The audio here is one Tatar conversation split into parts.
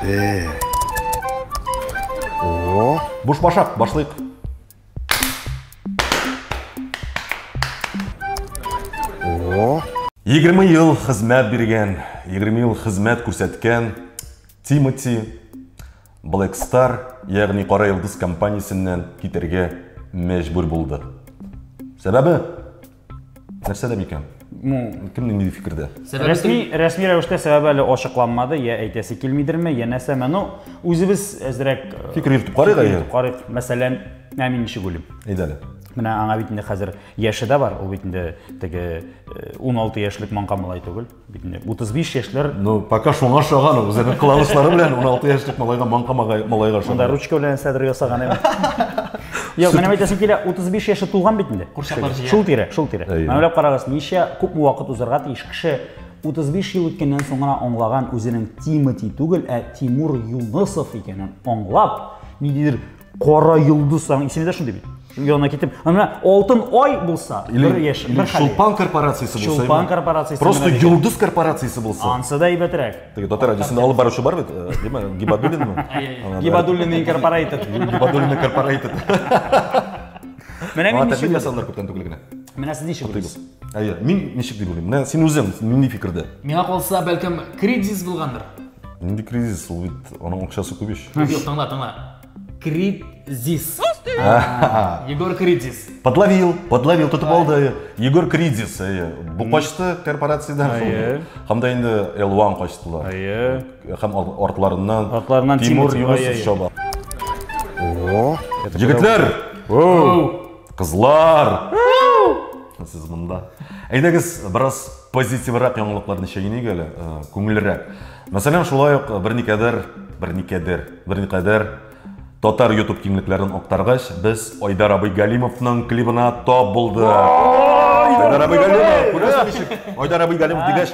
Э. О. Буш башак, башлыйк. О. 20 ел хезмәт биргән, 20 ел хезмәт күрсәткән Тимоти Black Star, ягъни Кара Йолдыз компаниясеннән китәргә мәҗбүр булды. Сәбәбе Нәрсәдә микән? Ну, кемнең нинди фикердә? Рәсми, рәсми рәвештә сәбәбе әле ачыкланмады, я әйтәсе килмидерме, я нәрсәме. Ну, үзебез әзрәк э, фикер йөртеп карыйк әле. Карыйк. Мәсәлән, ә мин ничек уйлыйм? Әйдә әле. Менә аңа бит инде хәзер яше дә бар, ул бит инде теге 16 э, яшьлек маңка малай түгел. Бит инде 35 яшьләр. Ну, пока шуңа ошаган ул. Үзенең кыланышлары белән 16 яшьлек малайга манка малайга ошаган. Монда ручка белән сәдер ясаган әйе. Юк, менә әйтәсем килә, 35 яше тулган бит инде. Курчаклар җыя. Шул тирә, шул тирә. Менә уйлап карагыз, ничә күп вакыт узарга тиеш кеше 35 ел үткәннән соң гына аңлаган үзенең Тимати түгел, ә Тимур Юнысов икәнен аңлап, ниндидер Кара йолдыз саң исемдә шундый бит. Янына китеп, ана алтын ай булса, бер яш, бер хәл. Шулпан корпорациясе булса. Шулпан корпорациясе. Просто йолдыз корпорациясе булса. Ансы да әйбәтрәк. Теге татар радиосында алып баручы бар бит, э, диме? Гибадуллинмы? Гибадуллин инкорпорейтед. Гибадуллин инкорпорейтед. Менә мин ничек ясалар күптән түгел генә. Менә сез ничек уйлыйсыз? Әйе, мин ничек дип уйлыйм? Менә син үзең нинди фикердә? Миңа калса, бәлкем, кризис булгандыр. Нинди кризис? Ул бит аның акчасы күп ич. Юк, тыңла, тыңла. Кризис. Егор Кризис. Подловил, подловил, тотып алды. Егор Кризис, әйе. Бу качты корпорациядән Әйе. шул. Һәм дә инде L1 качтылар. Әйе. Һәм ар- артларыннан Артларыннан Тимур Тимур, Юнусов әйе. чаба. Егетләр! Оу! Кызлар! Сез монда. Әйдәгез, бераз позитиврак яңалыкларны чәйнәйк әле, э, күңеллерәк. Мәсәлән, шулай ук берникадәр, берникадәр, берникадәр татар YouTube киңлекләрен актаргач, без Айдар абый Галимовның клибына тап булдык. Айдар абый Галимов, күрәсең ничек? Айдар абый Галимов дигәч,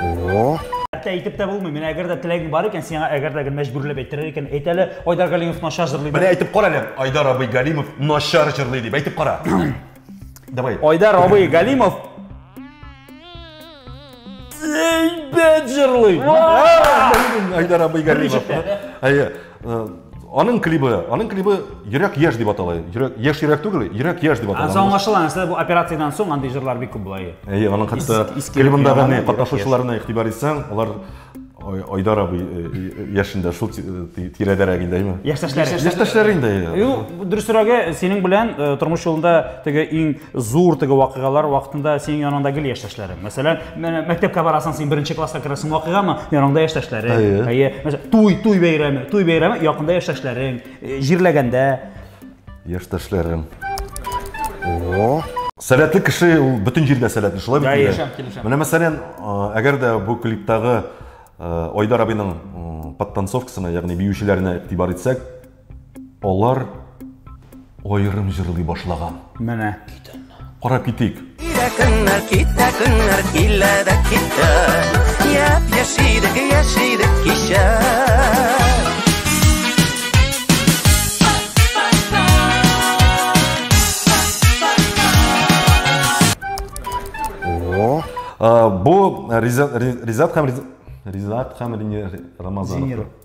О! Хәтта әйтеп тә булмый. Менә әгәр дә теләгең бар икән, сиңа әгәр дә мәҗбүрләп әйттерер икән, әйт әле, Айдар Галимов начар җырлый. Менә әйтеп кара әле, Айдар абый Галимов начар җырлый дип әйтеп кара. Давай. Айдар абый Галимов әйбәт җырлый. Айдар абый Галимов. Әйе. Э, аның клибы, аның клибы Йөрәк яшь дип атала. Йөрәк яшь йөрәк түгел, Йөрәк яшь дип атала. Ансы аңлашыла, нәрсә бу операциядән соң андый җырлар бик күп була. Әйе, аның хәтта клибындагы не катнашучыларына игътибар итсәң, алар Айдар абый э, э, яшендә шул тирәдәрәк инде, әйме? Яшьтәшләре. Яшьтәшләре инде. Юк, дөресрәге, синең белән тормыш юлында теге иң зур теге вакыйгалар вакытында синең яныңда гел яшьтәшләрең. Мәсәлән, мәктәпкә барасың, син беренче класска керәсең вакыйгамы? Яныңда яшьтәшләрең. Әйе. Мәсәлән, туй, туй бәйрәме, туй бәйрәме якында яшьтәшләрең, э, җирләгәндә. Яшьтәшләрем. О. Сәләтле кеше ул бөтен җирдә сәләтле, шулай бит? Килешәм, килешәм. Менә мәсәлән, әгәр дә бу клиптагы Айдар абыйның подтанцовкасына, ягъни биючеләренә игътибар итсәк, Алар аерым җырлый башлаган. Менә. Карап китик. Китә көннәр, китә көннәр, килә дә китә. Яп, яшидек, яшидек кичә. Бу Ризат һәм Ризат һәм Рамазанов.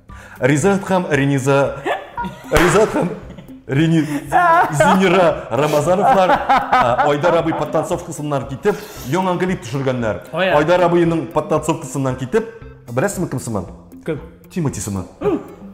Ризат һәм Рениза Ризат һәм Рени... Зинира Рамазановлар ә, Айдар абый подтанцовкасыннан китеп, яңа клип төшергәннәр. Ой, ә. Айдар абыйның подтанцовкасыннан китеп, беләсезме кем сыман? Кем? Тимати сыман.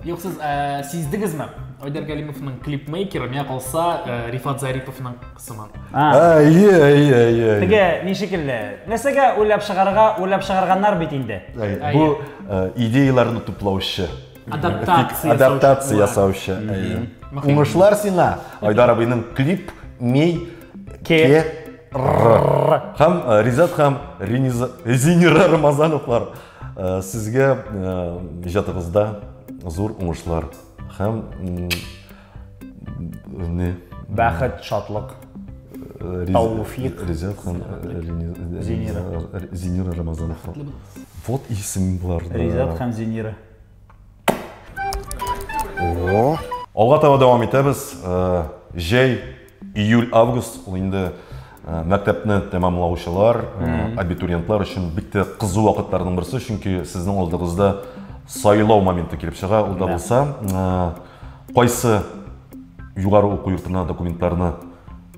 Юк, сез ә, сиздегезме? Айдар Галимовның клипмейкеры, миңа калса, ә, Рифат Зариповның сыман. Әйе, әйе, әйе. Теге ни шикелле? Нәрсәгә уйлап чыгарга, уйлап чыгарганнар бит инде. Бу э, идеяләрне туплаучы. Адаптация. Адаптация ясаучы. Әйе. Уңышлар сиңа. Айдар абыйның клип ми ке һәм э, Ризат һәм Зинира Рамазановлар э, сезгә иҗатыгызда зур уңышлар һәм не бәхет шатлык Тауфик. Резят хан Зинира. Зинира Рамазанов. Вот исем булар. Резят хан Зинира. О. Алга таба дәвам итәбез. Җәй Июль-август ул инде э, мәктәпне тәмамлаучылар, э, абитуриентлар өчен бик тә кызу вакытларның берсе, чөнки сезнең алдыгызда сайлау моменты килеп чыга. Ул да Да. булса, э, кайсы югары уку йортына документларны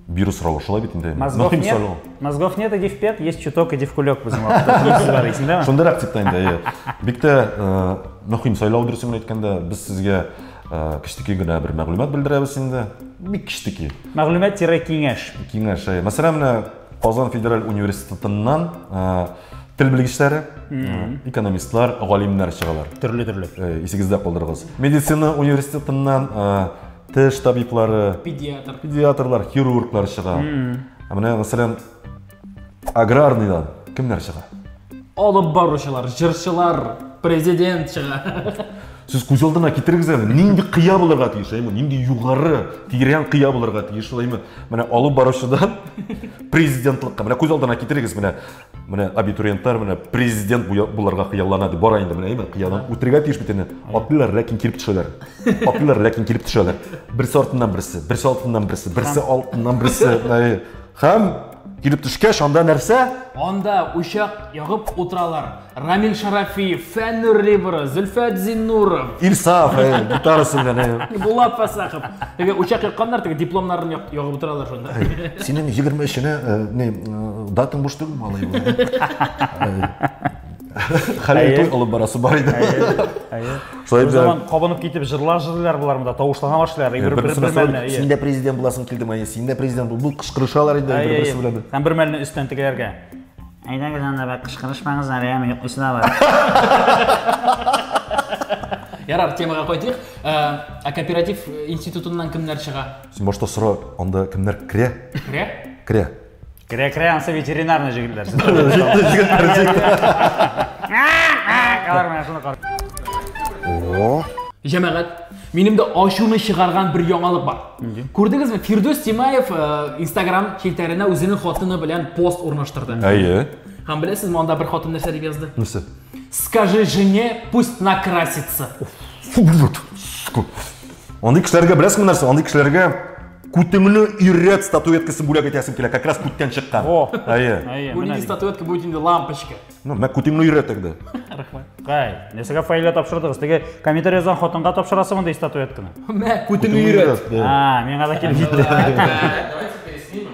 бирү соравы шулай бит инде. Мозгов Мөһим нет, сайлау. мозгов нет, иди в пет, есть чуток, иди в кулек безнең вакытта. Шунысын бар исең, да? Шундыйрак типтә инде. әйе. Бик тә э, мөһим сайлау дөресен генә әйткәндә, без сезгә Э, кечтеки генә бер мәгълүмат белдерәбез инде бик кечтеки мәгълүмат тире киңәш киңәш э, мәсәлән менә казан федераль университетыннан э, тел белгечләре экономистлар галимнәр чыгалар төрле төрле исегездә калдырыгыз медицина университетыннан теш табиблары педиатр педиатрлар хирурглар чыга менә мәсәлән аграрныйдан кемнәр чыга алып баручылар җырчылар президент чыга сез күз алдына китерегез әле нинди кыя булырга тиеш әйме нинди югары тирән кыя булырга тиеш ул әйме менә алып баручыдан президентлыкка менә күз алдына китерегез менә менә абитуриентлар менә президент булырга хыяллана дип бара инде менә әйме кыядан үтәргә тиеш бит инде атлыйлар ләкин килеп төшәләр атлыйлар ләкин килеп төшәләр берсе артыннан берсе берсе артыннан берсе берсе алтыннан берсе Һәм килеп төшкәч, анда нәрсә? Анда учак ягып утыралар. Рамил Шарафиев, Фәннур Рибра, Зөлфәт Зиннуров. Ильсаф, э, гитарасы белән. Э. Булат Фасахов. Теге учак якканнар, теге дипломнарын ягып утыралар шунда. Синең 23-нә э, не датың буш түгел малый. Хәләл туй алып барасы бар иде. Әйе. Шулай Бер заман кабынып китеп җырлар җырлыйлар болар монда, тавышлана башлыйлар. Бер бер мәлне. Син дә президент буласың килдем, әйе, син дә президент бул. Бу кычкырышалар инде бер берсе белән. Һәм бер мәлне өстән тегеләргә. Әйдәгез анда бәк кычкырышмагыз әле, яме йоклыйсы да бар. Ярар, темага кайтыйк. Ә, ә кооператив институтыннан кемнәр чыга? Син башта сора, анда кемнәр керә? Керә? Керә. Керә керә ансы ветеринарный җегетләр. Алар менә шуны кар. О. Җәмәгать, минем дә ачуны чыгарган бер яңалык бар. Күрдегезме? Фирдүс Тимаев э, Instagram челтәренә үзенең хатыны белән пост урнаштырды. Әйе. Һәм беләсез, монда бер хатын нәрсә дип язды? Нәрсә? Скажи жене, пусть накрасится. Фу, вот. Андый кешеләргә беләсеңме нәрсә? Андый кешеләргә Күтеңне иррәт статуэткасы бүләк итәсем килә, как раз күттән чыккан. О, Әйе. әйе, Бу менә нинди дигән. статуэтка будет инде лампочка. Ну, мә күтеңне иррәт инде. Рәхмәт. Кай, нәрсәгә фаилә тапшырдыгыз? Теге комментарий язган хатынга тапшырасы мондый статуэтканы. Мә, күтеңне өйрәт. А, миңа да килеп җитте. Давайте переснимем.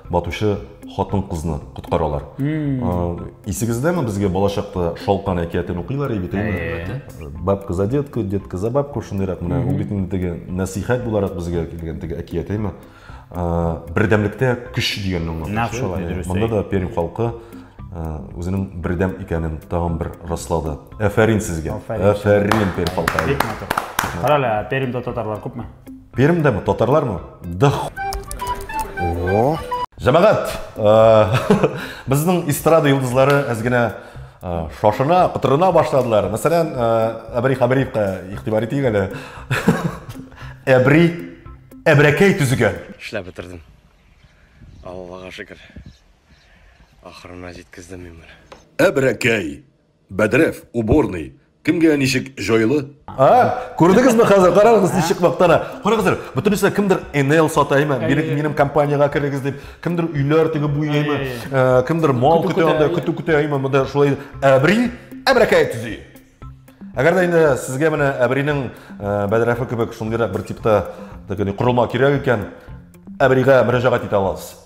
Батучы хатын-кызны коткаралар. Исегездәме, безгә балачакта Шалкан әкиятен укыйлар иде бит, әйеме? Бабка за детку, детка за бабку, шундыйрак менә ул бит инде теге нәсыйхәт буларак безгә килгән теге әкият, әйеме? Бердәмлектә көч дигәнне аңлата. Нәкъ шулай, дөрес. Монда да Пермь халкы үзенең бердәм икәнен тагын бер раслады. Әфәрин сезгә. Әфәрин. Әфәрин Пермь халкы. Бик матур. Карале, Пермьдә татарлар күпме? Пермьдә ме, татарлар ме? Да О. Җәмәгать, безнең эстрада йолдызлары әз генә шашына, кытырына башладылар. Мәсәлән, Әбри Хабриевка игътибар итик әле. Әбри әбрәкәй төзегән. Эшләп бетердем. Аллага шөкер. Ахырына җиткездем мин моны. Әбрәкәй. Бәдрәф, уборный, кемгә ничек җайлы? А, күрдегезме хәзер, карагыз ничек мактана. Карагыз әле, бөтенесе кемдер Enel сатаймы, бирек минем компаниягә керегез дип, кемдер өйләр теге буяймы, э, кемдер мал көтә анда, көтү көтә аймы, монда шулай әбри, әбрәкәй төзи. Әгәр дә инде сезгә менә әбринең э, бәдрәфе кебек шундыйрак бер типта, дигән, корылма кирәк икән, әбригә мөрәҗәгать итә аласыз.